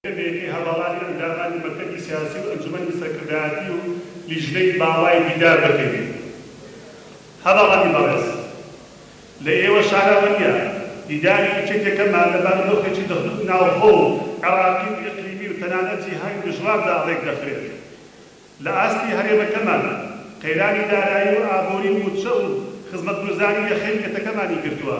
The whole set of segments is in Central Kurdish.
یەکێتی هەواڵی ئەندامانی مەکتەبی سیاسی و ئەنجومەنی سەرکردایەتی و لیژنەی باڵای دیدار دەکەین. هەڤاڵانی بەڕێز، لە ئێوە شاراوە نییە، دیداری یەکێتیەکەمان لە بەر دۆخێکی ناوخۆ و عێڕاقی و ئیقلیمی و تەنانەت جیهانی دژواردا ڕێکدەخرێت. لە ئاستی هەرێمەکەمان قەیرانی دارایی و ئابووری و مووچە و خزمەتگوزاری لە خێلکەتەکەمانی گرتووە.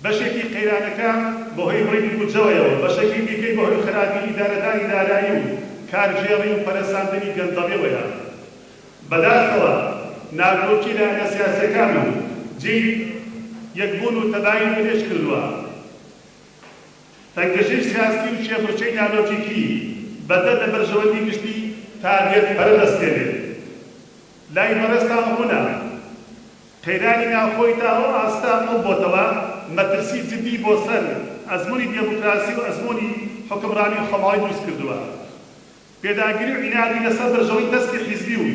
بەشێکی قەیرانەکە بەهۆی بڕینی بودجەوەیەوە، بەشەکی دیکەی بەهۆی خەراپی ئیدارەدانی دارایی و کارگێڕی و پەرەسەندنی گەندەڵیەوەیە. بەداخەوە ناکۆکی لایەنە سیاسیەکان و جێی یەکبوون و تەبایی منێژ کردووە. تەنگەژەی سیاسی و کێبڕکێی نالۆجیکی بەدەر لە بەرژەوەندی گشتی تاگەر پەرە دەستێنێت. لای بەڕێزتان ڕوونە قەیرانی ناوخۆی تا ئەو ئاستە قوڵ بۆتەوە، مەترسی جدی بۆ سەر ئەزموونی دێموکراسی و ئەزموونی حوکمڕانی خۆماڵی دروست کردووە. پێداگری و عینادی لە سەر بەرژەوەی تەسکی حیزبی و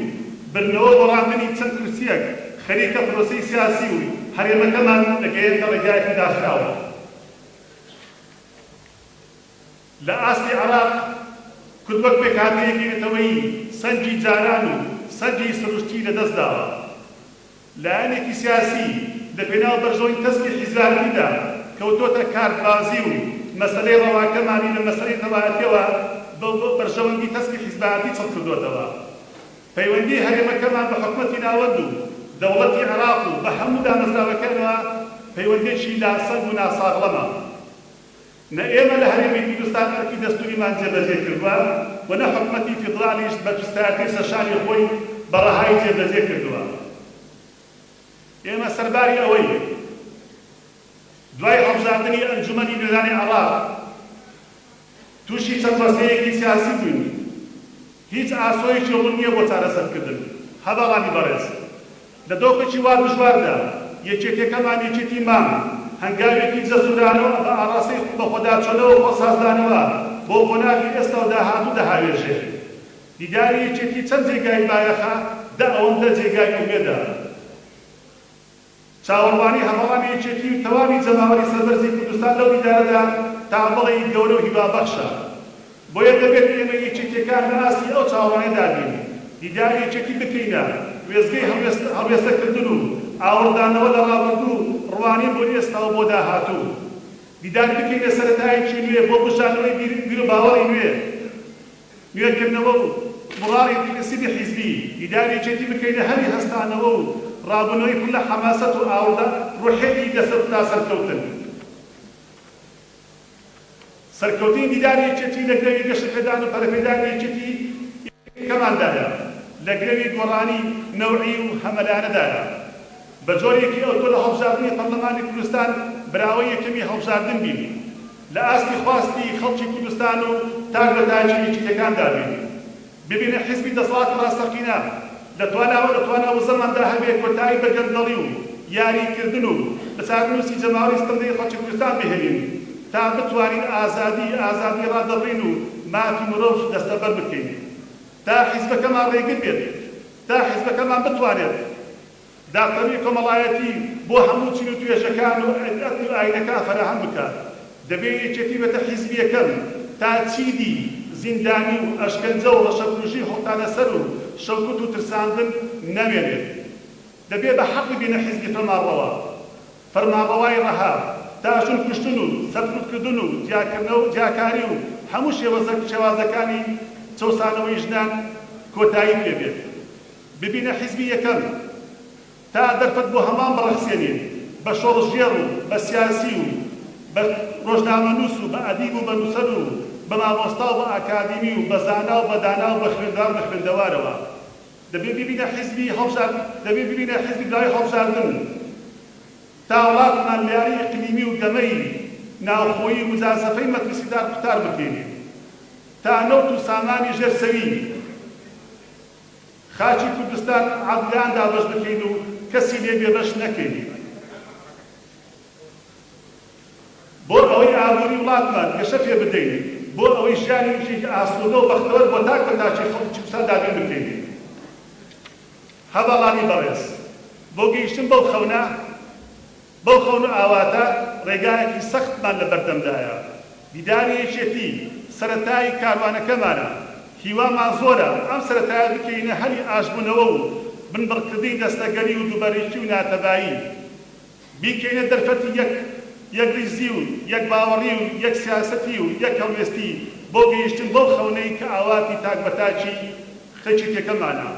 بردنەوە بۆ ڕاندنی چەند کورسییەک خەریکە پرۆسەی سیاسی و هەرێمەکەمان دەگەیەنتە ڕێگایەکی داخراو. لە ئاستی عێراق، کورد وەک پێکهاتەیەکی نەتەوەیی سەنگی جاران و سەنگی سروشتی لەدەست داوە. لایەنێکی سیاسی لە پێناو بەرژەوەندی تەسکی حیزاریدا کەوتۆتە کارتبازی و مەسەلەی ڕەواکەمانی لە مەسەلەی نەتەوایەتیەوە بە بەرژەوەندی تەسکی حیزبایەتی چڕکردۆتەوە. پەیوەندیی هەرێمەکەمان بە حکومەتی ناوەند و دەوڵەتی عێراق و بە هەموو دامەزراوەکانەوە پەیوەندییەکی لاسەنگ و ناساغڵەمە. نە ئێمە لە هەرێمی کوردستان ئەرکی دەستووریمان جێبەجێ کردووە و نە حکومەتی فیدراڵیش بەرپرسایەتیی سەرشانی خۆی بە ڕەهای جێبەجێ کردووە. ئێمە سەرباری ئەوەی دوای هەڵبژاردنی ئەنجوومەنی نوێنەرانی عێراق، تووشی چەند ڕەستەیەکی سیاسی بووین هیچ ئاسۆیەکی ڕوون نییە بۆ چارەسەرکردن هە باڵانی بەڕێز لە دۆخێکی وا دژواردا یەکێتیەکەمان یەکێتی مام هەنگاوێکی جەسورانەو بە ئاڕاستەی بەخۆداچۆنەوە خۆسازدانەوە بۆ قۆناغی ئێستاو داهاتوو دەهاوێژێ دیداری یەکێتی چەند جێگای بایەخە دە ئەوەندە جێگای ئومێدە. چاوەڕوانی هەمەڵانی یەکێتی و تەواوی جەماوەری سەربەرزی کوردستان لەو دیدارەدا تا بڵێی گەورە و هیوابەخشە. بۆیە دەبێت ئێمەی یەکێتییەکان لە ئاستی ئەو چاوەڕێدا بین، دیداری یەکێتی بکەینە وێستگەی هەڵوێستەکردن و ئاوڕدانەوە لە ڕابردوو و ڕوانین بۆ ئێستا و بۆ داهاتوو. دیداری بکەینە سەرەتایەکی نوێ بۆ بوژانەوەی بیروباوەڕی نوێ. نوێکردنەوە و بوڕانی دیگرسیڤی حیزبی، دیدار یەکێتی بکەینە هەلی هەستانەوە و ڕابوونەوەی پڕ لە حەماسەت و ئاوڕدا ڕوحێکی دەسەت تا سەرکەوتن. سەرکەوتنی دیداری یەکێتی لە گرەوی گەشەپێدان و پەرەپێدانی یەکێتیی کەماندایە، لە گرەوی گۆڕانی نەوعی و هەمەلایەنەدایە. بە جۆرێکی ئەوتۆ لە هەڵبژاردنی پەرلەمانی کوردستان براوەی یەکەمی هەڵبژاردن بین و لە ئاستی خواستی خەڵکی کوردستان و تاک لە تاکی و یەکیتەکاندا بین و ببینە حیزبی دەسەڵاتی ڕاستەقینە لە توانا و لە توانا و زەماندا هەبێ کۆتایی بە گەندەڵی و یاری کردن و لە چارەنووسی جەماوەری ستەمدێری خەڵکی کوردستان بهێلین تا بتوانین ئازادی ئازادی ڕادەبڕین و مافی مرۆڤ دەستەبەر بکەین تا حیزبەکەمان ڕێگر بێت تا حیزبەکەمان بتوانێت دادپەروی کۆمەڵایەتی بۆ هەموو چین و توێژەکان و ئەدن و ئاینەکان فەراهەم بکات، دەبێ یەکێتی بەتە حیزبیەکەم تا چیدی زیندانی و ئەشکەنجە و ڕەشەکوژی هەڵتانە سەر و شەوکوت و ترساندن نەمێنێت. دەبێ بە حەقی بینە حیزبی فەرمانڕەوا. فەرمانڕەوای ڕەها تا ژن کوشتن و سەرکوت کردن و جیاکردنەوە و جیاکاری و هەموو شێوەزە شێوازەکانی چەوسانەوەی ژنان کۆتایی پێ بێت. ببینە حیزبی یەکەم تا دەرفەت بۆ هەمان بڕەخسێنین بە شۆڕشگێڕ و بە سیاسی و بە ڕۆژنامەنووس و بە ئەدیب و بە نووسەر و بە مامۆستا و بە ئاکادیمی و بە زانا و بە دانا و بە خوێندەوار و بە خوێندەوارەوە دەبێ ببینە حیزبی هەڵبژارد دەبێ ببینە حیزبی براوەی هەڵبژاردن تا وڵاتمان لە یاری ئیقلیمی و گەمەی ناوخۆیی و مجازەفەی مەترسیدار قوتار بکێنین تا نەوت و سامانی ژێر سەوی خاکی کوردستان عادلان دابەش بکەین و کەسی لێ بێبەش نەکەین بۆ ئەوەی ئابوری وڵاتمان گەشە پێ بدەین، بۆ ئەوەی ژیانی وچێکی ئاسوودە و بەختەوەر بۆ تاک بە تاکی خەڵکی کوردستان دابین بکەین. هەڤاڵانی بەڕێز، بۆ گەیشتن بەو خەونە، بەو خەون و ئاواتە ڕێگایەکی سەختمان لە بەردەمدایە. دیداری یەکێتی سەرەتای کاروانەکەمانە. هیوامان زۆرە ئەم سەرەتایە بکەینە هەلی ئاشتبوونەوە و بنبڕکردنی دەستەگەری و دووبەرەکی و ناتەبایی. بیکەینە دەرفەتی یەک یەکڕیزی و یەک باوەڕی و یەک سیاسەتی و یەک هەڵوێستی بۆ گەیشتن بەو خەونەی کە ئاواتی تاک بە تاکی خەڵکی پێکەمانە.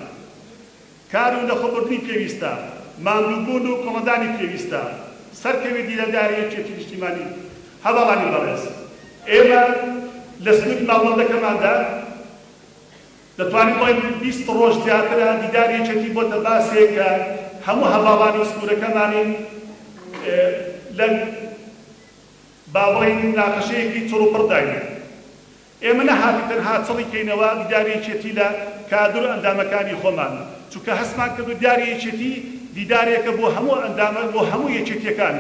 کار و لەخۆبردنی پێویستە، ماندووبوون و کۆڵنەدانی پێویستە، سەرکەوی دیلەداری یەکێتی نیشتیمانی. هەڤاڵانی بەڕێز! ئێمە لە سنووری ماڵبەندەکەماندا دەتوانین بڵێین بیست ڕۆژ زیاترە دیداری یەکێتی بۆتە باسێک کە هەموو هەڤاڵانی سنوورەکەمانین لە با بڵێین موناقەشەیەکی چڕوپڕداین. ئێمە نەهاتین تەنها چڕی کەینەوە دیداری یەکێتی لە کادر و ئەندامەکانی خۆمان، چونکە هەستمان کردو دیاری یەکێتی دیدارێکە بۆ هەموو ئەندامە بۆ هەموو یەکێتیەکان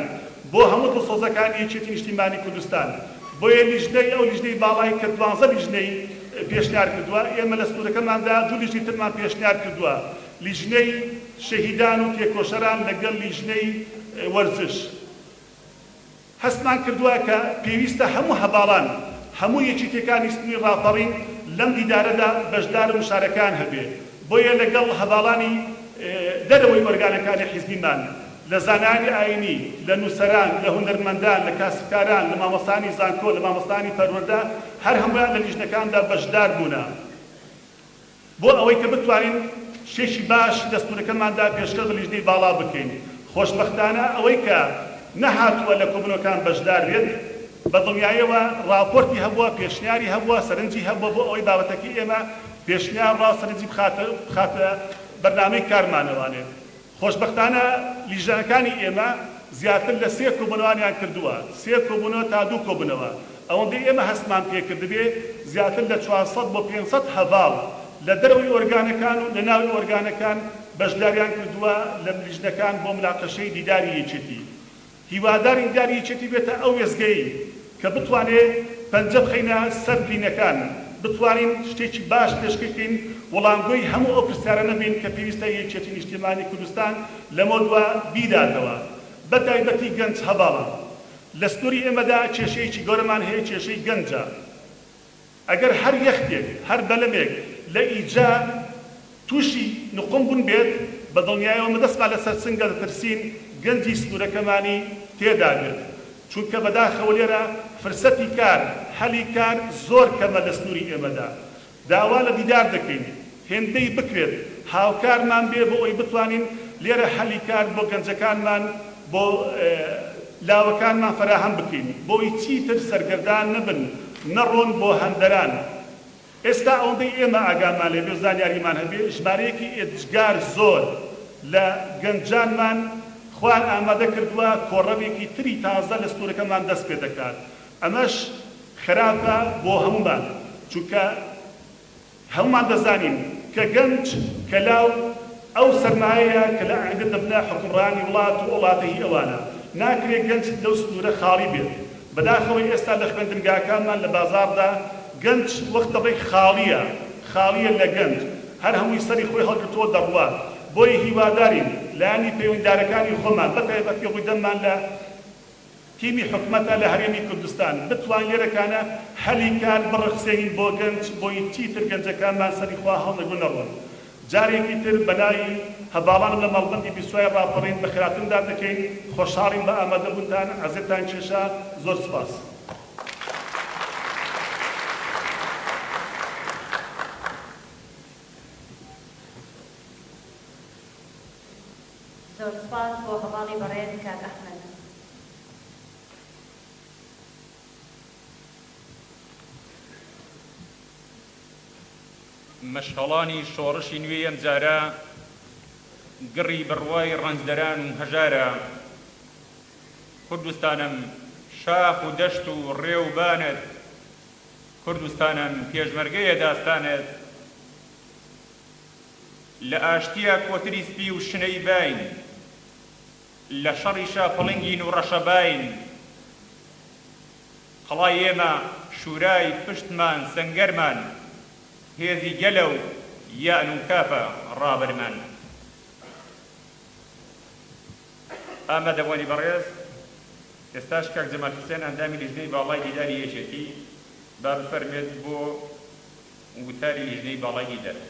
بۆ هەموو دڵسۆزەکانی یەکێتی نیشتیمانی کوردستان، بۆیە لیژنەی ئەو لیژنەی باڵای کە دوانزە لیژنەی پێشنیار کردوە ئێمە لە سنورەکەماندا دوو لیژنەی ترمان پێشنیار کردوە لیژنەی شەهیدان و تێکۆشەران لەگەڵ لیژنەی وەرزش. هەستمان کردوە کە پێویستە هەموو هەڤاڵان، هەموو یەکیتیەکانی ستمی ڕاپەڕین لەم دیدارەدا بەشدار و مشارەکەیان هەبێ، بۆیە لەگەڵ هەڤاڵانی دەرەوەی ئۆرگانەکانی حیزبیمان، لە زانایانی ئایینی، لە نووسەران، لە هونەرمەندان، لە کاسبکاران، لە مامۆستایانی زانکۆ، لە مامۆستایانی پەروەردە، هەر هەموویان لە لیژنەکاندا بەشدار بوونە. بۆ ئەوەی کە بتوانین شتێکی باش دەستوورەکەماندا پێشکەش بە لیژنەی باڵا بکەین. خۆشبەختانە ئەوەی کە نەهاتووە لە کۆبوونەوەکان بەشدار بێت، بە دڵنیاییەوە ڕاپۆرتی هەبووە، پێشنیاری هەبووە، سەرنجی هەبووە بۆ ئەوەی بابەتەکەی ئێمە پێشنیار ڕا و سەرنجی بخاتە بەرنامەی کارمانەوانێ. خۆشبەختانە لیژنەکانی ئێمە زیاتر لە سێ کۆبوونەوانیان کردووە، سێ کۆبوونەوە تا دوو کۆبوونەوە، ئەوەندەی ئێمە هەستمان پێ کردبێ زیاتر لە چوار سەد بۆ پێنج سەد هەڤاڵ لە دەرەوەی ئۆرگانەکان و لە ناوی ئۆرگانەکان بەشداریان کردووە لە لیژنەکان بۆ مناقەشەی دیداری یەکێتی. هیوادارین داری یەکێتی بێتە ئەو وێستگەیەی کە بتوانێ پەنجە بخەینە سەر برینەکان، بتوانین شتێکی باش پێشکەی بکەین، وڵامگۆی هەموو ئەو پرسیارانە بین کە پێویستە یەکێتی نیشتیمانی کوردستان لەمەو دوا بیداتەوە. بە تایبەتی گەنج هەڤاڵان. لە سنووری ئێمەدا کێشەیەکی گەورەمان هەیە کێشەی گەنجە. ئەگەر هەر یەختێک، هەر بەلەمێک لە ئیجە تووشی نقوم بوون بێت، بە دڵنیایەوە مدەسقا لە سەرسنگە دەترسین گەنجی سنوورەکەمانی تێدا بێت، چونکە بەداخەوە لێرە فرسەتی کار، هەلی کار زۆر کەمە لە سنووری ئێمەدا. داوا لە دیدار دەکەین. هێندەی بکرێت هاوکارمان بێ بۆ ئەوەی بتوانین لێرە هەلی کار بۆ گەنجەکانمان بۆ لاوەکانمان فەراهەم بکەین بۆی چیتر سەرگەردان نەبن نەڕۆن بۆ هەندەران ئێستا ئەوەندەی ئێمە ئاگامان لێبێ و زانیاریمان هەبێ ژمارەیەکی ئێجگار زۆر لە گەنجانمان خوار ئامادە کردوە کۆڕەوێکی تری تازە لە ستورەکەمان دەست پێ دەکات ئەمەش خراپە بۆ هەموومان چونکە هەموومان دەزانین کە گەنج کەلاو ئەو سەرمایەیە کە لە ئایندە دەبنە حوکمڕانی وڵات و ئەوڵاتە هی ئەوانە، ناکرێ گەنج لەو سنوورە خاڵی بێت، بەداخەوە ئێستا لە خوێندنگاکانمان لە بازاڕدا گەنج وەک دەڵێی خاڵییە، خاڵییە لە گەنج، هەر هەمووی سەری خۆی هەڵگرتووە دەڕوات، بۆیە هیوادارین لایەنی پەیوەندیدارەکانی خۆمان بە تایبەتی ڕووی دەممان لە. تیمی حکومەتە لە هەرێمی کوردستان بتوانین لێرەکانە هەلی کار بڕەخسێنین بۆ گەنج بۆی چیتر گەنجەکانمان سەری خوا هەڵنەگرن و نەڕۆن جارێکی تر بەلای هەڤاڵانم لە مەڵبەندی بیسوای ڕاپەڕین بە خێراترم دات دەکەین خۆشحاڵین بە ئامادەبوونتان عەزێتان کێشا زۆر سوپاس. زۆر سوپاس بۆ هەواڵی بەڕێز کاک ئەحمەد. مەشخەڵانی شۆڕشی نوێی ئەمجارە گڕی بڕوای ڕەنجدەران و هەژارە کوردستانم، شاخ و دەشت و ڕێ و بانت کوردستانم، پێشمەرگەیە داستانت، لە ئاشتیا کۆتری سپی و شنەی باین لە شەڕی شا پڵنگین و ڕەشەباین قەڵای ئێمە شورای پشتمان سەنگەرمان هێزی گەلە و یەعن و کافە ڕابەرمان ئامادەبوانی بەڕێز ئێستاش کاک جەمال حسێن ئەندامی لیژنەی باڵای دیداری یەکێتی با بفەرمێت بۆ وتاری لیژنەی باڵای ئیدارە.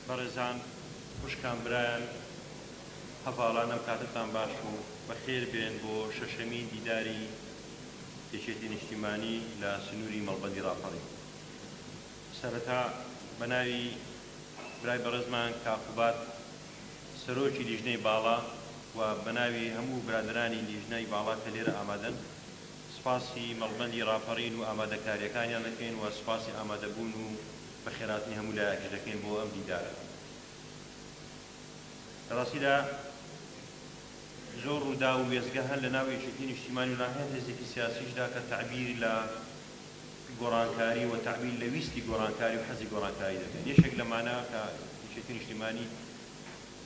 بەڕێزان خوشکان برایان هەڤاڵان ئەم کاتەتان باش و بەخێر بێن بۆ شەشەمین دیداری یەکێتی نیشتیمانی لە سنووری مەڵبەندی ڕاپەڕین. سەرەتا بە ناوی برای بەڕێزمان کاک قوباد سەرۆکی لیژنەی باڵا و بە ناوی هەموو برادەرانی لیژنەی باڵا کە لێرە ئامادەن سپاسی مەڵبەندی ڕاپەڕین و ئامادەکارییەکانیان دەکەین و سپاسی ئامادەبوون و بەخێراتنی هەموو لایەکش دەکەین بۆ ئەم دیدارە لە ڕاستیدا زۆر ڕوودا و وێزگە هەن لە ناو یەکێتی نیشتیمانی و ناهێن هێزێکی سیاسیشدا کە تعبیر لە گۆڕانکاری و تەعبیر لە ویستی گۆڕانکاری و حەزی گۆڕانکاری دەکەن. یەکێک لە مانا کە یەکێتی نیشتیمانی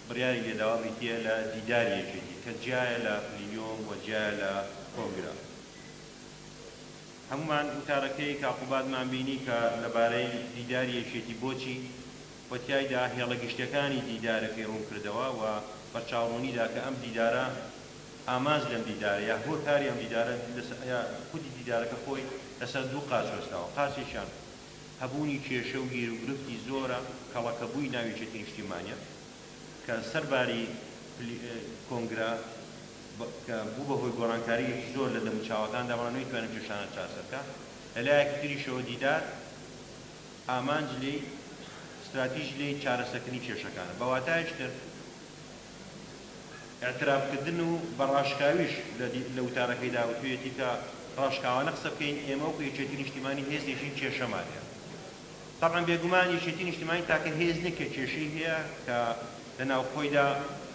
بڕیاری لێ داوە بریتییە لە دیداری یەکێتی کە جیایە لە پلینۆم و جیایە لە کۆنگرە. هەموومان وتارەکەی کاک قوبادمان بینی کە لەبارەی دیداری یەکێتی بۆچی و تیایدا هێڵە گشتیەکانی دیدارەکەی ڕوونکردەوە و بەرچاوڕوونی دا کە ئەم دیدارە ئامانج لەم دیدارە یا هۆکاری ئەم دیدارە لەسەر یا خودی دیدارەکە خۆی لەسەر دوو قاچ وەستاوە، قاچێکیان هەبوونی کێشە و گیروگرفتی زۆرە، کەڵەکەبووی ناو یەکێتی نیشتیمانییە کە سەر باری کۆنگرە کە بوو بە هۆی گۆڕانکارییەکی زۆر لە دەموچاوەکاندا، بەڵام نەیتوانی ئەم کێشانە چارەسەر بکات، لە لایەکی تریشەوە دیدار ئامانج لێی ستراتیژی لێی چارەسەرکردنی کێشەکانە، بە واتایەکی تر. ئیعتراف کردن و بە ڕاشکاویش لە وتارەکەیدا وتویەتی کە ڕاشکاوانە قسە بکەین ئێمە وەکو یەکێتی نیشتیمانی هێز نیشین کێشەمان هەیە تەبعەن بێگومان یەکێتی نیشتیمانی تاکە هێز نیە کە کێشەی هەیە کە لە ناو خۆیدا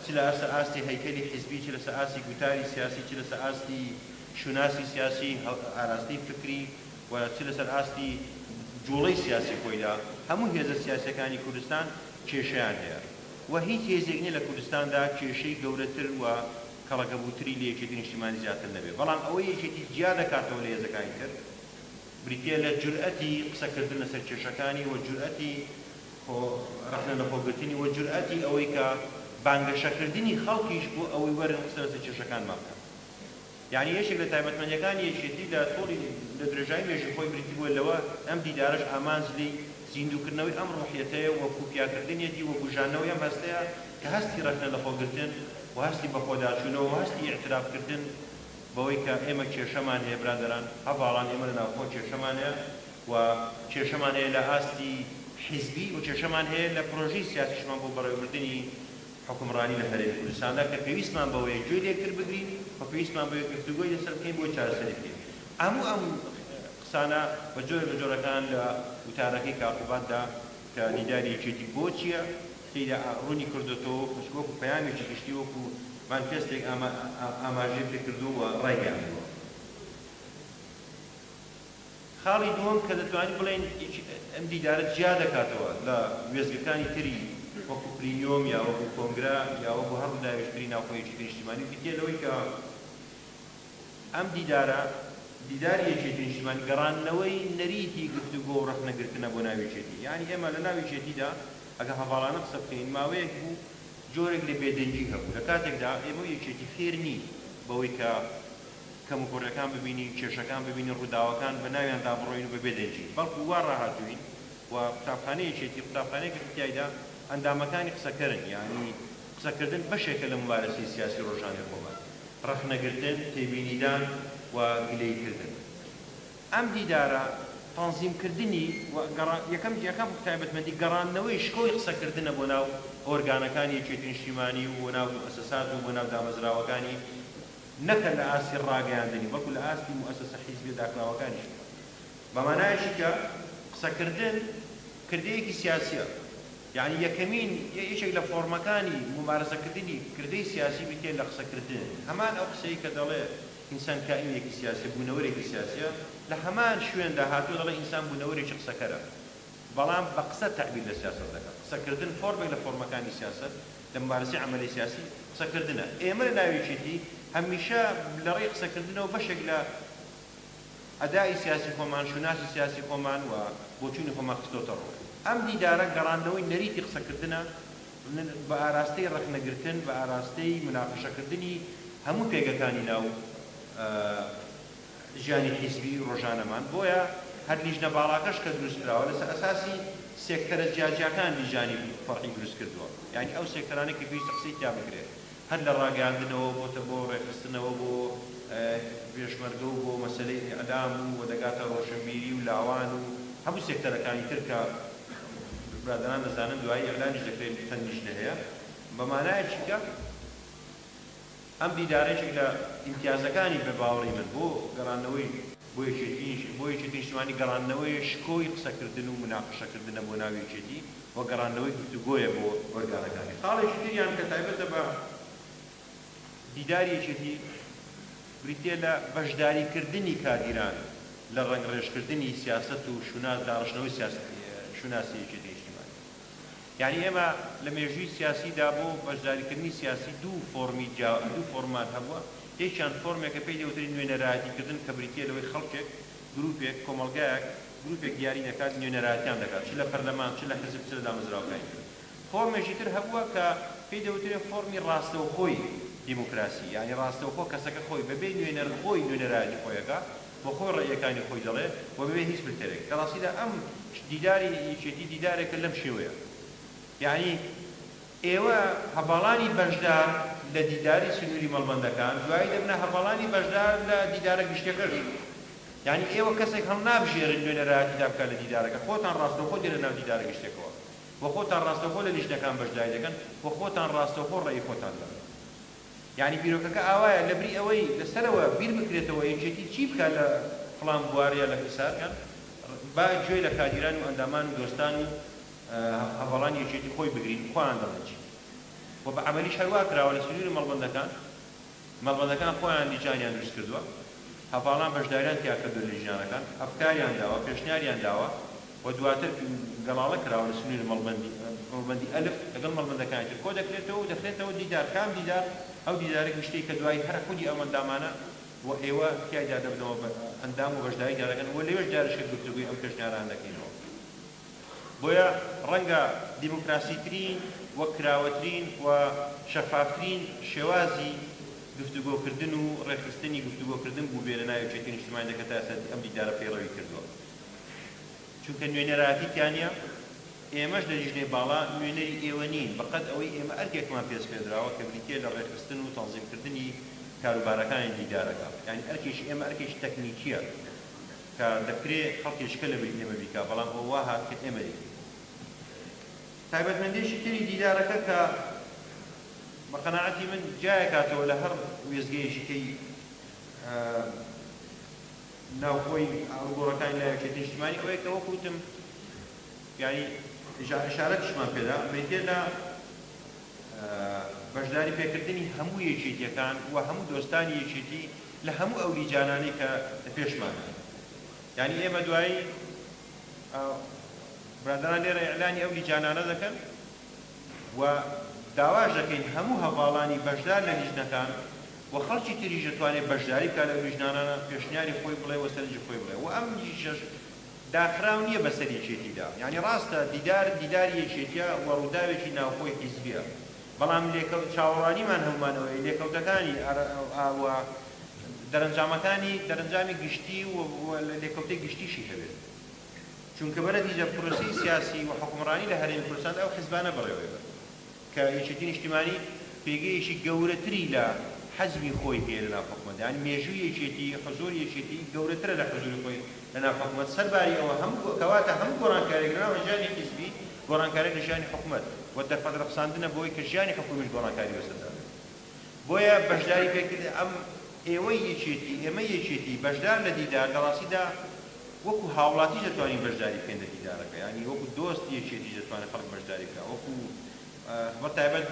چ لە ئەسە ئاستی هەیکەلی حیزبی چ لەسە ئاستی گوتاری سیاسی چ لەسە ئاستی شوناسی سیاسی ئاراستەی فکری و چ لەسەر ئاستی جوڵەی سیاسی خۆیدا هەموو هێزە سیاسەکانی کوردستان کێشیان هەیە و هیچ هێزێک نیە لە کوردستاندا کێشەی گەورەتر و کەڵەکەبووتری لە یەکێتی نیشتیمانی زیاتر نەبێت، بەڵام ئەوەی یەکێتی جیا دەکاتەوە لە هێزەکانی تر بریتیە لە جورئەتی قسەکردن لەسەر کێشەکانی و جورئەتی خۆ رەخنە لەخۆگرتنی و جورئەتی ئەوەی کە بانگەشەکردنی خەڵکیش بۆ ئەوەی وەرن قسە لەسەر کێشەکانمان بکەن. یەعنی یەکێک لە تایبەتمەندیەکانی یەکێتی لە تۆڕی لە درێژایی مێژووی خۆی بریتی بووە لەوە، ئەم دیدارەش ئامانج لێی زیندووکردنەوەی ئەم ڕۆحیەتەیە و کوپیاکردنیەتی و بوژاندنەوەی ئەم هەستەیە کە هەستی ڕەخنە لە خۆگرتن و هەستی بەخۆداچوونەوە و هەستی ئیعترافکردن بەوەی کە ئێمە کێشەمان هەیە برادەران هەڤاڵان ئێمە لە ناوخۆ کێشەمان هەیە و کێشەمان هەیە لە ئاستی حیزبی و کێشەمان هەیە لە پرۆژەی سیاسیشمان بۆ بەڕێوەبردنی حوکمڕانی لە هەرێمی کوردستاندا کە پێویستمان بەوەیە گوێ لە یەکتر بگرین و پێویستمان بەوەیە گفتوگۆی لەسەر بکەین بۆی چارەسەری بکەین. هەموو ئەم قسانە بە جۆرە لە جۆرەکان لە وتارەکەی کاقوباددا کە دیداری یەکێتی بۆچییە تێیدا ڕوونی کردۆتەوە و خۆ وەکوو پەیامێکی گشتی وەکوو مانفێستێک ئاماژەی پێ کردووە و ڕایگەیاندووە. خاڵی دووەم کە دەتوانین بڵێین ئیکی ئەم دیدارە جیا دەکاتەوە لە وێستگەکانی تری وەکو پلیۆم یا وەکو کۆنگرە یا وەکو هەر ڕووداوێکی تری ناوخۆ یەکێتی نیشتیمانی و بریتیە لەوەی کە ئەم دیدارە دیداری یەکێتی نیشتیمانی گەڕاندنەوەی نەریتی گفتوگۆ و ڕەخنە گرتنە بۆ ناو یەکێتی یانی ئێمە لە ناو یەکێتیدا ئەگە هەڤاڵانە قسە بکەین ماوەیەک بوو جۆرێک لە بێدەنگی هەبوو لە کاتێکدا ئێمە و یەکێتی فێر نین بەوەی کە کەموکوڕیەکان ببینین، کێشەکان ببینین، ڕووداوەکان بە ناویاندا بڕۆین و بە بێ دەنگی، بەڵکو وا ڕاهاتووین و قوتابخانەی یەکێتی، قوتابخانەیەکە کە تیایدا ئەندامەکانی قسەکەرن، یانی قسەکردن بەشێکە لە مومارەسەی سیاسی ڕۆژانەی خۆمان، ڕەخنەگرتن، تێبینیدان و گلەییکردن. ئەم دیدارە تەنزیمکردنی و گەڕان، یەکەم جیاکە بە تایبەتمەندی گەڕاندنەوەی شکۆی قسەکردنە بۆ ناو ئۆرگانەکانی یەکێتی نیشتیمانی و بۆ ناو موئەسەسات و بۆ ناو دامەزراوەکانی نەک هەر لە ئاستی ڕاگەیاندنی، بەڵکو لە ئاستی موئەسەسە حیزبیە داخراوەکانیشەوە. بە مانایەکی کە قسەکردن کردەیەکی سیاسیە. یەعنی یەکەمین، یەکێک لە فۆڕمەکانی مومارەسەکردنی کردەی سیاسی بریتیە لە قسەکردن. هەمان ئەو قسەی کە دەڵێ ئینسان کائینێکی سیاسیە، بونەوەرێکی سیاسیە، لە هەمان شوێندا هاتوە دەڵێ ئینسان بونەوەرێکی قسەکەرە. بەڵام بە قسە تەعبیر لە سیاسەت دەکا. قسەکردن فۆرمێک لە فۆرمەکانی سیاسەت لە مومارەسەی عەمەلی سیاسی قسەکردنە. ئێمە لە ناو یەکێتی هەمیشە لە ڕێی قسەکردنەوە بەشێک لە ئەدائی سیاسی خۆمان، شوناسی سیاسی خۆمان و بۆچوونی خۆمان خستۆتە ڕوو. ئەم دیدارە گەڕاندنەوەی نەریتی قسەکردنە بە ئاراستەی ڕەخنەگرتن، بە ئاراستەی موناقەشەکردنی هەموو پێگەکانی ناو ژیانی حیزبی ڕۆژانەمان، بۆیە هەر لیژنە باڵاکەش کە دروست کراوە لەسەر ئەساسی سێکتەرە جیاجیاکان لیژانی فەرعی دروست کردووە، یانی ئەو سێکتەرانەی کە پێویستە قسەی تیا بکرێت، هەر لە ڕاگەیاندنەوە بۆتە بۆ ڕێکخستنەوە بۆ پێشمەرگە و بۆ مەسەلەی ئیعلام و دەگاتە ڕۆشنبیری و لاوان و هەموو سێکتەرەکانی تر کە برادەران دەزانن دوایی ئیعلامیش دەکرێت چەند لیژنە هەیە بە مانایەکی کە ئەم دیدارە یەکێک لە ئیمتیازەکانی بە باوەڕی من بۆ گەڕاندنەوەی بۆ یەکێتی بۆ یەکێتی نیشتمانی گەڕاندنەوەیە شکۆی قسەکردن و مناقەشەکردنە بۆ ناو یەکێتی و گەڕاندنەوەی گفتوگۆیە بۆ ئۆرگانەکانی خاڵێکی تریان کە تایبەتە بە دیداری یەکێتی بریتیە لە بەشداریکردنی کادیران لە ڕەنگڕێژکردنی سیاسەت و شوناس داڕشتنەوەی سیاسەتی شوناسی یەکێتی نیشتمانی. یانی ئێمە لە مێژووی سیاسیدا بۆ بەشداریکردنی سیاسی دوو فۆڕمی جیا دوو فۆڕممان هەبووە، یەکیان فۆڕمێکە پێی دەوترێت نوێنەرایەتیکردن کە بریتییە لەوەی خەڵکێک، گرووپێک، کۆمەڵگایەک، گرووپێک دیاری دەکات نوێنەرایەتیان دەکات چ لە پەرلەمان، چ لە حزب، چ لە دامەزراوەکانی تر. فۆڕمێکی تر هەبووە کە پێی دەوترێت فۆڕمی ڕاستەوخۆی دیموکراسی، یانی ڕاستەوخۆ کەسەکە خۆی بەبێ نوێنەر خۆی نوێنەرایەتی خۆی ئەکات، بۆ خۆی ڕەئیەکانی خۆی دەڵێ و بەبێ هیچ فلتەرێک. لە ڕاستیدا ئەم دیداری یەکێتی دیدارێکە لەم شێوەیە. یەعنی ئێوە هەڤاڵانی بەشدار لە دیداری سنووری مەڵبەندەکان دوایی دەبنە هەڤاڵانی بەشدار لە دیدارە گشتیەکەش. یەعنی ئێوە کەسێک هەڵنابژێرن نوێنەرایەتیتان بکات لە دیدارەکە. خۆتان ڕاستەوخۆ دێنە ناو دیدارە گشتیەکەوە و خۆتان ڕاستەوخۆ لە لیژنەکان بەشداری دەکەن و خۆتان ڕاستەوخۆ ڕەئی خۆتان دەڵێن. یانی بیرۆکەکە ئاوایە لەبری ئەوەی لەسەرەوە بیر بکرێتەوە یەکێتی چی بکا لە فڵان بوار یا لە فیسار کان با گوێ لە کادیران و ئەندامان و دۆستان و هەڤاڵانی یەکێتی خۆی بگرین خۆیان دەڵێن چی وە بە عەمەلیش هەر وا کراوە لە سنوری مەڵبەندەکان مەڵبەندەکان خۆیان لیجانیان دروست کردوە هەڤاڵان بەشداریان تیا کردوە لە لیجانەکان ئەفکاریان داوە پێشنیاریان داوە و دواتر گەڵاڵە کراوە لە سنووری مەڵبەندی، مەڵبەندی ئەلف، لەگەڵ مەڵبەندەکانی تر کۆ دەکرێتەوە و دەخرێتەوە دیدار، کام دیدار؟ ئەو دیدارە گشتیەی کە دوایی هەر خودی ئەم ئەندامانە و ئێوە تیایدا دەبنەوە بە ئەندام و بەشداریدا دەکەن و لەوێش جارێ شێت گفتوگۆی ئەم پێشنیارانە دەکەینەوە. بۆیە ڕەنگە دیموکراسیترین و کراوەترین و شەفافترین شێوازی گفتوگۆکردن و ڕێکخستنی گفتوگۆکردن بووبێ لە ناو یەکێتی نیشتمانی دەکەتاسەتی ئەم دیدارە پەیڕەوی کردووە. چونکە نوێنەرایەتی تیانییە، ئێمەش لە لیژنەی باڵا نوێنەری ئێوە نین، بەقەد ئەوەی ئێمە ئەرکێکمان پێسپێردراوە کە بریتییە لە ڕێکخستن و تەنزیمکردنی کاروبارەکانی دیدارەکە، یانی ئەرکێکی ئێمە ئەرکێکی تەکنیکییە کە دەکرێ خەڵکێکی کە لەبری ئێمە بیکا، بەڵام ئەوە وا هات کە ئێمە دەیکەین. تایبەتمەندییەکی تری دیدارەکە کە بە قەناعەتی من جیایەکاتەوە لە هەر وێستگەیەکی کەی، ناوخۆی ئاڵوگۆڕەکانی لای یەکێتی نیشتمانی ئەوەیە کە وەکو وتم یانی ئیجا ئیشارەتیشمان پێدا بریتیە لە بەشداری پێکردنی هەموو یەکێتیەکان و هەموو دۆستانی یەکێتی لە هەموو ئەو لیجانانەی کە لە پێشمان یعنی ئێمە دوایی برادران لێرە ئیعلانی ئەو لیجانانە دەکەن و داواش دەکەین هەموو هەڤاڵانی بەشدار لە لیژنەکان و خەڵکی تریش دەتوانێت بەشداری بکات لەو لیژنانانە پێشنیاری خۆی بڵێ و سەرنجی خۆی بڵێ و ئەم لیژنەش داخراو نیە بەسەر یەکێتیدا یانی ڕاستە دیدار دیداری یەکێتیە و ڕوداوێکی ناوخۆی حیزبیە بەڵام لێکەو چاوەڕوانیمان هەموومان ئەوەیە لێکەوتەکانی ئەر ئا و دەرەنجامەکانی دەرەنجامی گشتی و لێکەوتەی گشتیشی هەبێت. چونکە بە نەتیجە پرۆسەی سیاسی و حوکمڕانی لە هەرێمی کوردستاندا ئەو حزبانە بەڕێوەی برد کە یەکێتی نیشتیمانی پێگەیەکی گەورەتری لە حزبی خۆی هەیە لە ناو حکومەتدا یانی مێژووی یەکێتی حزوری یەکێتی گەورەترە لە حزوری خۆی لە ناو حکومەت سەرباری ئەوە هەم کەواتە هەم گۆڕانکاریەک لە ناو ژیانی حزبی گۆڕانکاریەک لە ژیانی حکومەت و دەرفەت رەخساندنە بۆی کە ژیانی حکومیش گۆڕانکاری بەسەردا بێت. بۆیە بەشداری پێکردنی ئەم ئێوەی یەکێتی، ئێمەی یەکێتی بەشدار لە دیدار لە ڕاستیدا وەکو هاوڵاتیش دەتوانین بەشداری بکەین لە دیدارەکە یانی وەکو دۆست یەکێتیش دەتوانێت خەڵک بەشداری بکات وەکو بە تایبەت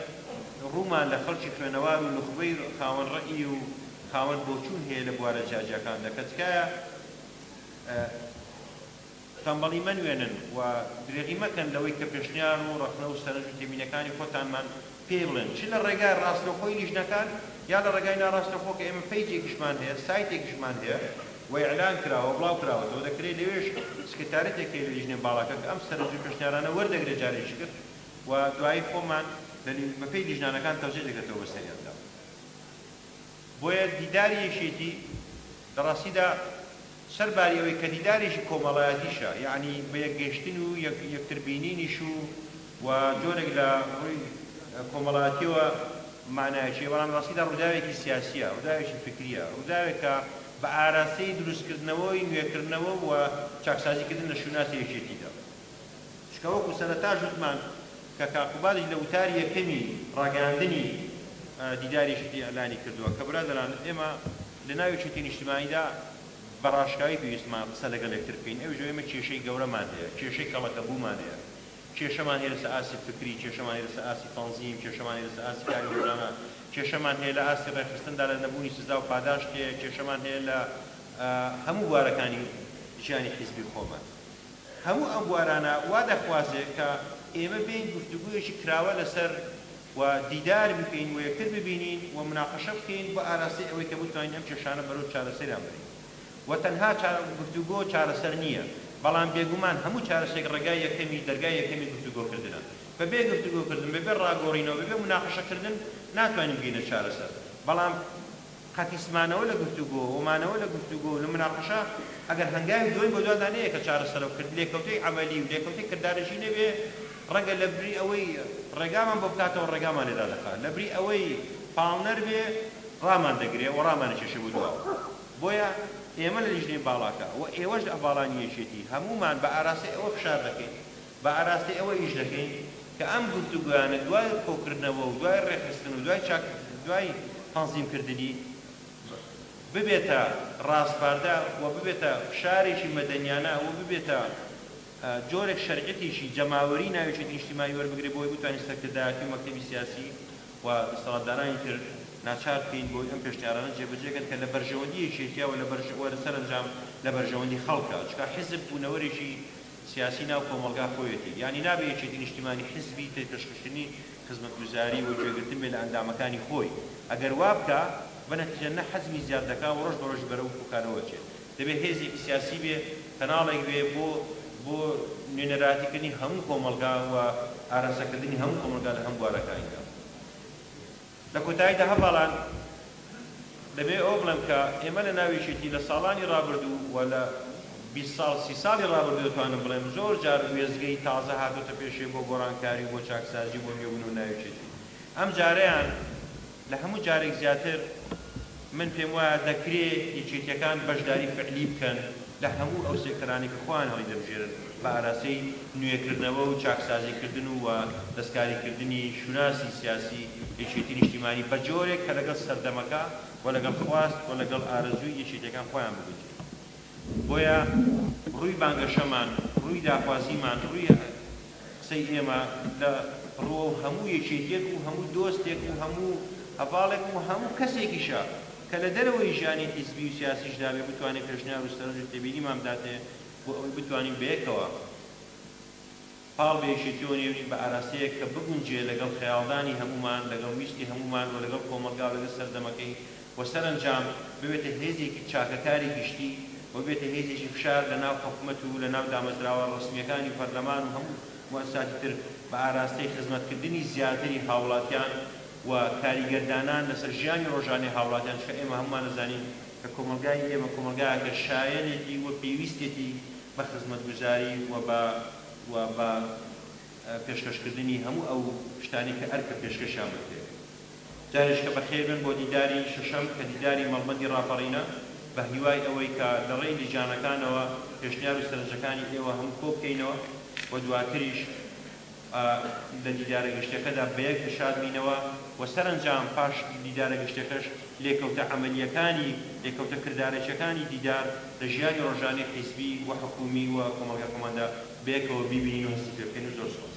ڕوومان لە خەڵکی خوێنەوار و نوخبەی خاوەن ڕەئی و خاوەن بۆچوون هەیە لە بوارە جیاجیاکاندا کە تکایە تەمبەڵی مەنوێنن و درێغی مەکەن لەوەی کە پێشنیار و ڕەخنە و سەرنج و تێبینەکانی خۆتانمان پێی بڵێن چ لە ڕێگای ڕاستەوخۆی لیژنەکان یا لە ڕێگای ناڕاستەوخۆ کە ئێمە پەیجێکیشمان هەیە سایتێکیشمان هەیە و ئیعلان کراوە بڵاو کراوەتەوە دەکرێ لەوێش سکرتارێتێک هەیە لە لیژنەی باڵاکە کە ئەم سەرنج و پێشنیارانە وەردەگرێ جارێکی تر و دوایی خۆمان بە پێی لیژنانەکان تەوزیع دەکرێتەوە بەسەریاندا. بۆیە دیداری یەکێتی لە ڕاستیدا سەر باری ئەوەی کە دیدارێکی کۆمەڵایەتیشە، یەعنی بە یەکگەیشتن و یەکتر بینینیش و و جۆرێک لە ڕووی کۆمەڵایەتیەوە مەعنایەکی هەیە، بەڵام لە ڕاستیدا ڕووداوێکی سیاسیە، ڕووداوێکی فیکریە، ڕووداوێکە بە ئاراستەی دروستکردنەوەی نوێکردنەوە و چاکسازیکردن لە شوناسی یەکێتیدا. چکە وەکو سەرەتاش وتمان کە کاکو بالیش لە وتاری یەکەمی ڕاگەیاندنی دیداری شتی ئیعلانی کردوە کە برادەران ئێمە لە ناوی چوتی نیشتمانیدا بە ڕاشکاوی پێویستمان قسە لەگەڵ یەکتر بکەین ئەویش ئەوەی ئێمە کێشەی گەورەمان هەیە کێشەی کەڵەکە بومان هەیە کێشەمان هەیە لەسەر ئاستی فکری کێشەمان هەیە لەسەر ئاستی تەنزیم کێشەمان هەیە لەسەر ئاستی کاری ڕۆژانە کێشەمان هەیە لە ئاستی ڕێکخستندا لە نەبوونی سزا و پاداشت هەیە کێشەمان هەیە لە هەموو بوارەکانی ژیانی حیزبی خۆمان هەموو ئەم بوارانە وا دەخوازێ کە ئێمە بێین گفتوگۆیەکی کراوە لەسەر و دیدار بکەین و یەکتر ببینین و مناقەشە بکەین بۆ ئاراستەی ئەوەی کە بتوانین ئەم کێشانە بەرەو چارەسەریان بەرین و تەنها گفتوگۆ چارەسەر نییە بەڵام بێگومان هەموو چارەسەرێک ڕێگای یەکەمی دەرگای یەکەمی گفتوگۆکردنە بەبێ گفتوگۆکردن بەبێ ڕاگۆڕینەوە بەبێ مناقەشەکردن ناتوانین بگەینە چارەسەر بەڵام قەتیس مانەوە لە گفتوگۆ و مانەوە لە گفتوگۆ و لە مناقەشە ئەگەر هەنگاوی دووەم بە دوادا نەیە کە چارەسەرە و کرد لێکەوتەی عەمەلی و لێکەوتەی کردارەشی نەبێ ڕەنگە لە بری ئەوەی ڕێگامان بۆ بکاتەوە ڕێگامان لێ دادەخا لە بری ئەوەی پاڵنەر بێ ڕامان دەگرێ و ڕامان ئەکێشێ بۆ دواوە بۆیە ئێمە لە لیژنەی باڵاکە و ئێوەش لە باڵانی یەکێتی هەموومان بە ئاراستەی ئەوە فشار دەکەین بە ئاراستەی ئەوە ئیش دەکەین کە ئەم گفتوگۆیانە دوای کۆکردنەوە و دوای ڕێکخستن و دوای چاک دوای تەنزیم کردنی ببێتە ڕاسپاردە و ببێتە فشارێکی مەدەنیانە و ببێتە جۆرێک شەرعیەتێکی جەماوەری ناویەکێتی نیشتیمانی وەربگرێت بۆی بتوانین سەرکردایەتی و مەکتەبی سیاسی و دەسەڵاتدارانی تر ناچار بکەین بۆی ئەم پێشنیارانە جێبەجێ کەن کە لە بەرژەوەندی یەکێتیە و لە بەرژ و لە سەرەنجام لە بەرژەوەندی خەڵکە چونکە حیزب بوونەوەرێکی سیاسی ناو کۆمەڵگا خۆیەتی، یانی نابێ یەکێتی نیشتیمانی حیزبی تەی پێشخشتنی خزمەتگوزاری و گوێگرتن بێ لە ئەندامەکانی خۆی، ئەگەر وا بکا، بە نەتیجە نە حەجمی زیاد دەکا و ڕۆژ بە ڕۆژی بەرەو پوکانەوە ئەچێ. دەبێ هێزێکی سیاسی بێ، کەناڵێک بێ بۆ بۆ نوێنەرایەتی کردنی هەموو کۆمەڵگا و ئاراستە کردنی هەموو کۆمەڵگا لە هەموو بوارەکانیدا. لە کۆتاییدا هەڤاڵان دەبێت ئەوە بڵێم کە ئێمە لە ناو یەکێتی لە ساڵانی ڕابردوو و لە بیست ساڵ سی ساڵی ڕابردوو دەتوانم بڵێم زۆر جار وێستگەی تازە هاتۆتە پێشێ بۆ گۆڕانکاری و بۆ چاکسازی و بۆ نوێبوون و ناویەکێتی ئەمجارەیان لە هەموو جارێک زیاتر من پێم وایە دەکرێ یەکێتیەکان بەشداری فعلی بکەن لە هەموو ئەو سێکتەرانەی کە خۆیان هەڵیدەبژێرن بە ئاراستەی نوێکردنەوە و چاکسازی کردن و وە دەستکاری کردنی شوناسی سیاسی یەکێتی نیشتیمانی بە جۆرێک کە لەگەڵ سەردەمەکە و لەگەڵ خواست و لەگەڵ ئارەزووی یەکێتیەکان خۆیان بگونجێن بۆیە ڕووی بانگەشەمان ڕووی داخوازیمان ڕووی قسەی ئێمە لە ڕووەو هەموو یەکێتیەک و هەموو دۆستێک و هەموو هەڤاڵێک و هەموو کەسێکیشە کە لە دەرەوەی ژیانی حیزبی و سیاسیشدا بێ بتوانێ پێشنیار و سەرنج و تێبینیمان بداتێ بۆ ئەوەی بتوانین بەیەکەوە پاڵ بە یەکێتیەوە نێرین بە ئاراستەیەک کە بگونجێ لەگەڵ خەیاڵدانی هەموومان لەگەڵ ویستی هەموومان و لەگەڵ کۆمەڵگا و لەگەڵ سەردەمەکەی و سەرەنجام ببێتە هێزێکی چاکەکاری گشتی و ببێتە هێزێکی فشار لە ناو حکومەت و لە ناو دامەزراوە ڕەسمییەکانی و پەرلەمان و هەموو موئەسساتی تر بە ئاراستەی خزمەتکردنی زیاتری هاوڵاتیان و کاریگەر دانان لەسەر ژیانی ڕۆژانەی هاوڵاتیان چونکە ئێمە هەموومان ئەزانین کە کۆمەڵگای ئێمە کۆمەڵگایەکە شایەنێتی و پێویستێتی بە خزمەتگوزاری و بە و بە پێشکەشکردنی هەموو ئەو شتانەی کە ئەرکە پێشکەشیان بکرێت. جاریشکە بەخێربێن بۆ دیداری شەشەم کە دیداری مەڵبەندی ڕاپەڕینە، بە هیوای ئەوەی کە لە ڕێی لیژانەکانەوە پێشنیار و سەرنجەکانی ئێوە هەموو کۆ بکەینەوە و دواتریش لە دیدارە گشتیەکەدا بە یەک دڵشاد بینەوە و سەرەنجام پاش دیدارە گشتیەکەش لێکەوتە عەمەلیەکانی لێکەوتە کردارەکیەکانی دیدار لە ژیانی ڕۆژانەی حیزبی و حکومی و کۆمەڵگای خۆماندا بەیەکەوە بیبینین و هەستی پێ بکەین و زۆر سوپاس.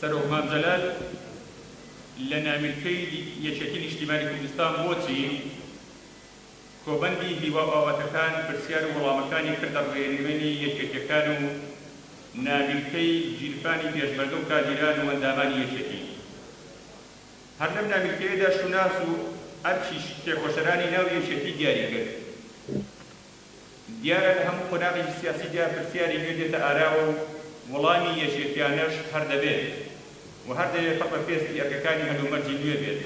سەرۆک مام جەلال لە ناویلکەی یەکێتی نیشتیمانی کوردستان بۆ چین کۆبەندی هیوا بابەتەکان پرسیار و وەڵامەکانی کردە ڕێنوێنی یەکێتیەکان و ناویلکەی گیرفانی پێشمەرگە و کادیران و ئەندامانی یەکێتی هەر لەم ناویلکەیەدا شوناس و ئەرکیش تێکۆشەرانی ناو یەکێتی دیاری کرد. دیارە لە هەموو قۆناغێکی سیاسیدا پرسیاری نوێ دێتە ئاراوە و وەڵامی یەکیەتیانەش هەر دەبێت و هەر دەبێت پڕ بە پێستی ئەرکەکانی هەلومەرجی نوێ بێت.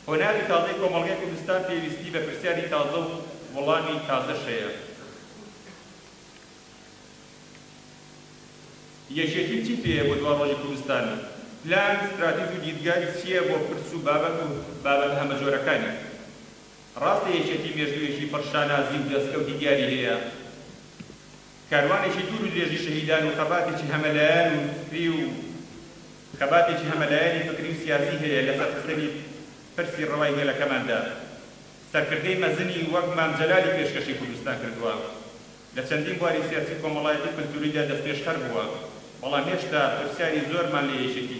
قۆناغی تازەی کۆمەڵگەی کوردستان پێویستی بە پرسیاری تازە و وەڵامی تازەش هەیە. یەکیەتی چی پێیە بۆ دوا ڕۆژی کوردستان؟ پلان، ستراتیژ و دیدگای چییە بۆ پرس و بابەت و بابەتە هەمەجۆرەکانی؟ ڕاستە یەکێتی مێژوویەکی پڕ شانازی و دەستکەوتی دیاری هەیە، کاروانێکی دوور و درێژی شەهیدان و خەباتێکی هەمەلایەن و فکری و خەباتێکی هەمەلایەنی فکری و سیاسی هەیە لەسەر خستنی پرسی ڕەوای گەلەکەماندا سەرکردەی مەزنی وەک مام جەلالی پێشکەشی کوردستان کردووە لە چەندین بواری سیاسی و کۆمەڵایەتی و کلتوریدا دەستپێشخەر بووە بەڵام هێشتا پرسیاری زۆرمان لە یەکێتی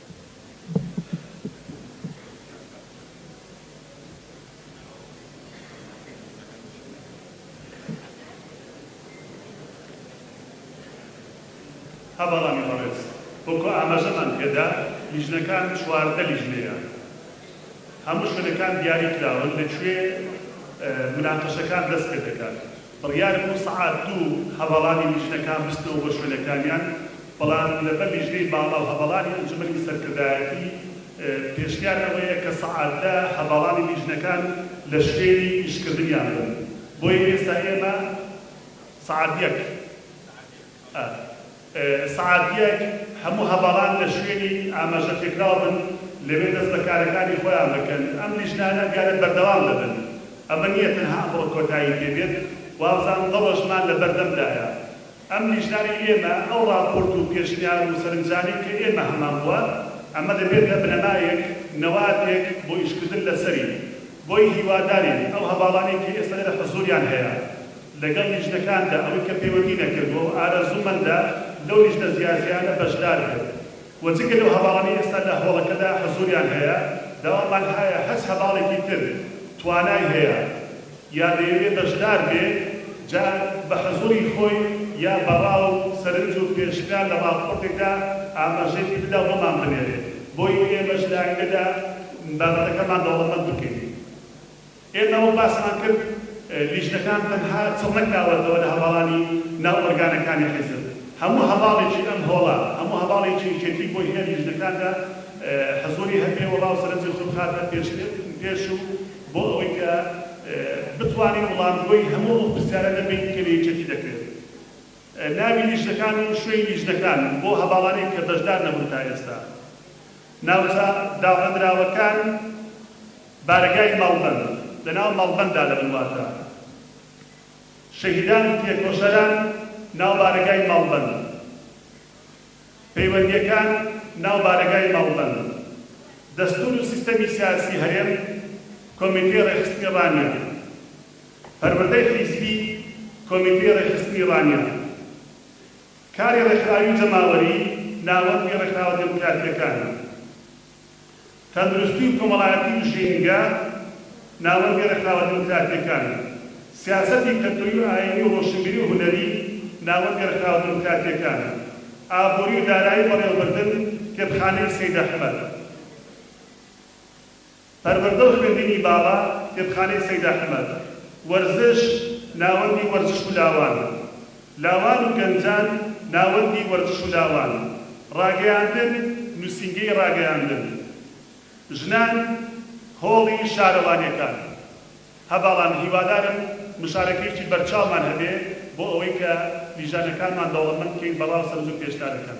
هە بەڵامی بەڕێز وەکو ئاماژەمان پێدا لیژنەکان چواردە لیژنەیە هەموو شوێنەکان دیاری کراون لە کوێ مناقەشەکان دەست پێدەکات. بڕیار بوو سەعات دوو هەڤاڵانی لیژنەکان بچنەوە بۆ شوێنەکانیان، بەڵام لەبەر لیژنەی باڵا و هەڤاڵانی ئەنجومەنی سەرکردایەتی پێشنیار ئەوەیە کە سەعات دە هەڤاڵانی لیژنەکان لە شوێنی ئیشکردنیان بن، بۆیە ئێستا ئێمە سەعات یەک. ئە سعات یەک هەموو هەڤاڵان لە شوێنی ئاماژە پێکراو بن لەوێ دەست بە کارەکانی خۆیان بکەن ئەم لیژنانە ئەم دیارە بەردەوام دەبن ئەمە نیە تەنها ئەمڕۆ کۆتایی پێ بێت وابزانم دە ڕۆژمان لە بەردەم دایە ئەم لیژنانەی ئێمە ئەو ڕاپۆرت و پێشنیار و سەرنجانەی کە ئێمە هەمان بووە ئەمە دەبێتە بنەمایەک نەواتێک بۆ ئیشکردن لە سەری بۆیە هیوادارین ئەو هەڤاڵانەی کە ئێستا لێرە حزووریان هەیە لەگەڵ لیژنەکاندا، ئەوەی کە پەیوەندی نەکردووە و ئارەزوومەندە لەو لیژنە جیاجیانە بەشدار بێت و جگە لەو هەڤاڵانەی ئێستا لە هۆڵەکەدا حزووریان هەیە، داوامان هایە هەچ هەڤاڵێکی تر توانای هەیە یا دەیەوێت بەشدار بێت، جا بە حزووری خۆی یا بە ڕا و سەرنج و پێشنیار لە ڕاپۆرتێکدا ئاماژەی پێ بدا و بۆمان بنێرێت، بۆیە ئێمەش لە ئایندەدا. بابەتەکەمان دەوڵەمەند بکەین. ئێمە وەک باسمان کرد لیژنەکان تەنها چڕ نەکراوەتەوە لە هەڤاڵانی ناو ئۆرگانەکانی حیزب. هەموو هەڤاڵێکی ئەم هۆڵە، هەموو هەڤاڵێکی یەکێتی بۆی هەیە لیژنەکاندا حزووری هەبێ و ڕاو سەرنجی خۆی بخاتە پێش و بۆ ئەوەی کە بتوانین وڵامگۆی هەموو ئەو پرسیارانە بین کە لە یەکێتی دەکرێت. ناوی لیژنەکان و شوێنی لیژنەکان بۆ هەڤاڵانی کە بەشدار نەبوون تا ئێستا. ناوچە داڕێندراوەکان، بارەگای مەڵبەند لە ناو مەڵبەنددا لە ملواندا، شەهیدان و تێکۆشەران ناو بارەگای مەڵبەند، پەیوەندییەکان ناو بارەگای مەڵبەند، دەستوور و سیستەمی سیاسی هەرێم، کۆمیتەی ڕێکخستنی ڕانیە، پەروەردەی حیزبی، کۆمیتەی ڕێکخستنی ڕانیە. کاری ڕێکخراوی جەماوەری ناوەندی ڕێکخراوە دێموکراتییەکانە. تەندروستی و کۆمەڵایەتی و ژینگە ناوەندی ڕێکخراوە دێموکراتییەکانە. سیاسەتی کەلتوری و ئایینی و ڕۆشنبیری و هونەری ناوەندی ڕێکخراوە دێموکراتییەکانە. ئابوری و دارایی و بەڕێوەبردن کتێبخانەی سەید ئەحمەد. پەروەردە و خوێندنی باڵا، کتێبخانەی سەید ئەحمەد، وەرزش، ناوەندی وەرزش و لاوان، لاوان و گەنجان، ناوەندی وەرزش و لاوان، ڕاگەیاندن، نووسینگەی ڕاگەیاندن، ژنان، هۆڵی شارەوانیەکان. هە بەڵام هیوادارم مشارەکەیەکی بەرچاومان هەبێ بۆ ئەوەی کە لیژانەکانمان دەوڵەمەند بکەین بە ڕا و سەرنج و پێشنارەکان.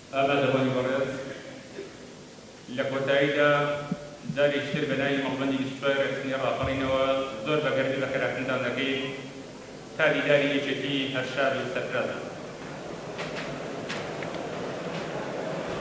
ئاغادەوانی بەڕێز لە کۆتاییدا جارێکی تر بە ناوی مەڵبەندی بیست و چوار رێکخستنی راپەڕینەوە زۆر بە گەرمی بەخێراتنتان دەکەین تا دیداری یەکێتی هەر شاد و سەرفراز بن.